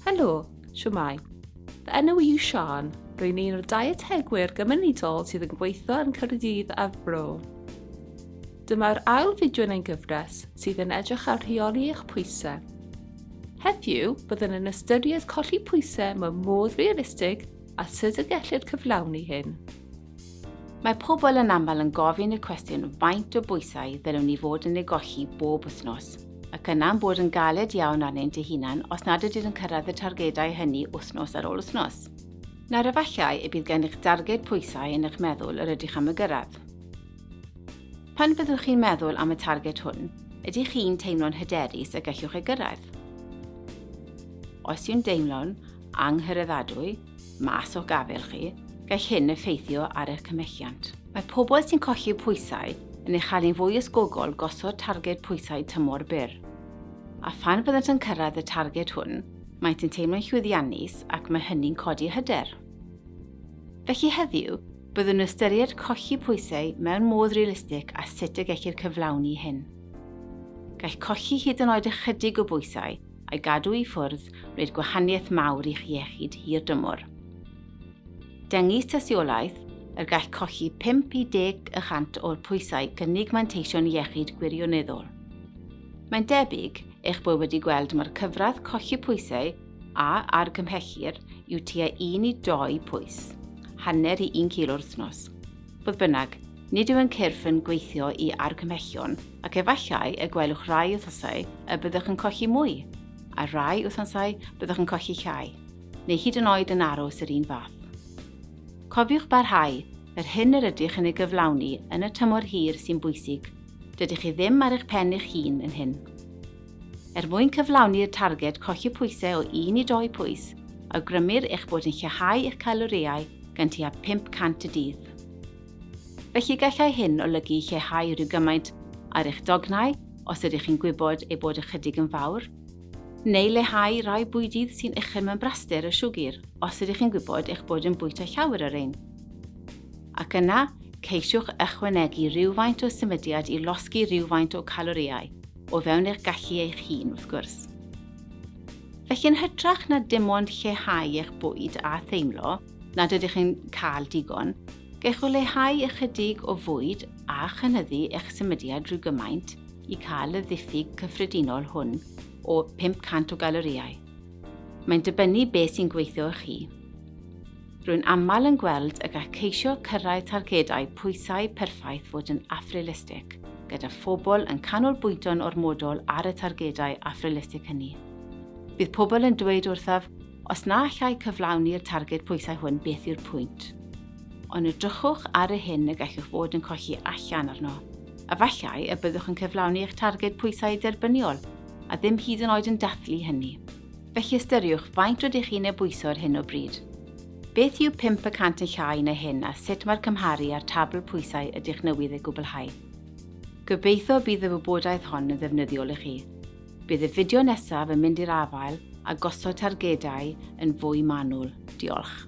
Helo, siwmai. Fy enw yw Sian. Rwy'n un o'r dietegwyr gymunedol sydd yn gweithio yn Caerdydd a Bro. Dyma'r ail fideo yn ein gyfres sydd yn edrych ar rheoli eich pwysau. Heddiw, byddwn yn ystyried colli pwysau mewn modd realistig a sut y gellir cyflawni hyn. Mae pobl yn aml yn gofyn y cwestiwn faint o bwysau ddylwn ni fod yn ei golli bob wythnos, ac yna'n bod yn galed iawn arnynt eu hunain os nad ydynt yn cyrraedd y targedau hynny wythnos ar ôl wythnos. Nawr efallai y bydd gennych darged pwysau yn eich meddwl yr ydych am y gyrraedd. Pan fyddwch chi'n meddwl am y targed hwn, ydych chi'n teimlo'n hyderus y gellwch ei gyrraedd? Os yw'n deimlo'n anghyraeddadwy, mas o'ch gafael chi, gall hyn effeithio ar eich cymhelliant. Mae pobl sy'n colli pwysau yn ei chael hi'n fwy ysgogol gosod targed pwysau tymor byr. A phan fyddant yn cyrraedd y targed hwn, maent yn teimlo'n llwyddiannus ac mae hynny'n codi hyder. Felly heddiw, byddwn yn ystyried colli pwysau mewn modd realistig a sut y gellir cyflawni hyn. Gall colli hyd yn oed ychydig o bwysau a'i gadw i ffwrdd wneud gwahaniaeth mawr i'ch iechyd hir dymor. Dengys tystiolaeth er gall colli 5 i 10 y chant o'r pwysau gynnig manteision iechyd gwirioneddol. Mae'n debyg eich bod wedi gweld mae'r cyfradd colli pwysau a argymhellir yw tua 1 i 2 pwys, hanner i 1 kilo wrthnos. Fodd bynnag, nid yw yn cyrff yn gweithio i argymhellion ac efallai y gwelwch rai wythnosau y byddwch yn colli mwy, a rhai wythnosau byddwch yn colli llai, neu hyd yn oed yn aros yr un fath. Cofiwch barhau, yr hyn yr ydych yn ei gyflawni yn y tymor hir sy'n bwysig, dydych chi ddim ar eich pen eich hun yn hyn. Er mwyn cyflawni'r targed colli pwysau o 1 i 2 pwys, awgrymir eich bod yn lleihau eich calorïau gan tua 500 y dydd. Felly gallai hyn olygu lleihau rhyw gymaint ar eich dognau os ydych chi'n gwybod eu bod ychydig yn fawr, neu leihau rai bwydydd sy'n uchel mewn braster o siwgr os ydych chi'n gwybod eich bod yn bwyta llawer o rein. Ac yna, ceisiwch ychwanegu rhywfaint o symudiad i losgi rhywfaint o calorïau. o fewn eich gallu eich hun, wrth gwrs. Felly yn hytrach na dim ond lleihau eich bwyd a theimlo nad ydych yn cael digon, gech o leihau ychydig o fwyd a chynyddu eich symudiad rhyw gymaint i cael y ddiffyg cyffredinol hwn o 500 o galorïau. Mae'n dibynnu beth sy'n gweithio i chi. Rwy'n aml yn gweld y gall ceisio cyrraedd targedau pwysau perffaith fod yn afrealistig, gyda phobl yn canolbwyntio'n ormodol ar y targedau afrealistig hynny. Bydd pobl yn dweud wrthaf, os na allai cyflawni'r targed pwysau hwn beth yw'r pwynt? Ond edrychwch ar y hyn y gallwch fod yn colli allan arno. Efallai y byddwch yn cyflawni eich targed pwysau derbyniol, a ddim hyd yn oed yn dathlu hynny. Felly ystyriwch faint rydych chi'n ei bwyso ar hyn o bryd. Beth yw pump y cant yn llai na hyn a sut mae'r cymharu â'r tabl pwysau ydych newydd ei gwblhau? Gobeithio y bydd y wybodaeth hon yn ddefnyddiol i chi. Bydd y fideo nesaf yn mynd i'r afael â gosod targedau yn fwy manwl. Diolch.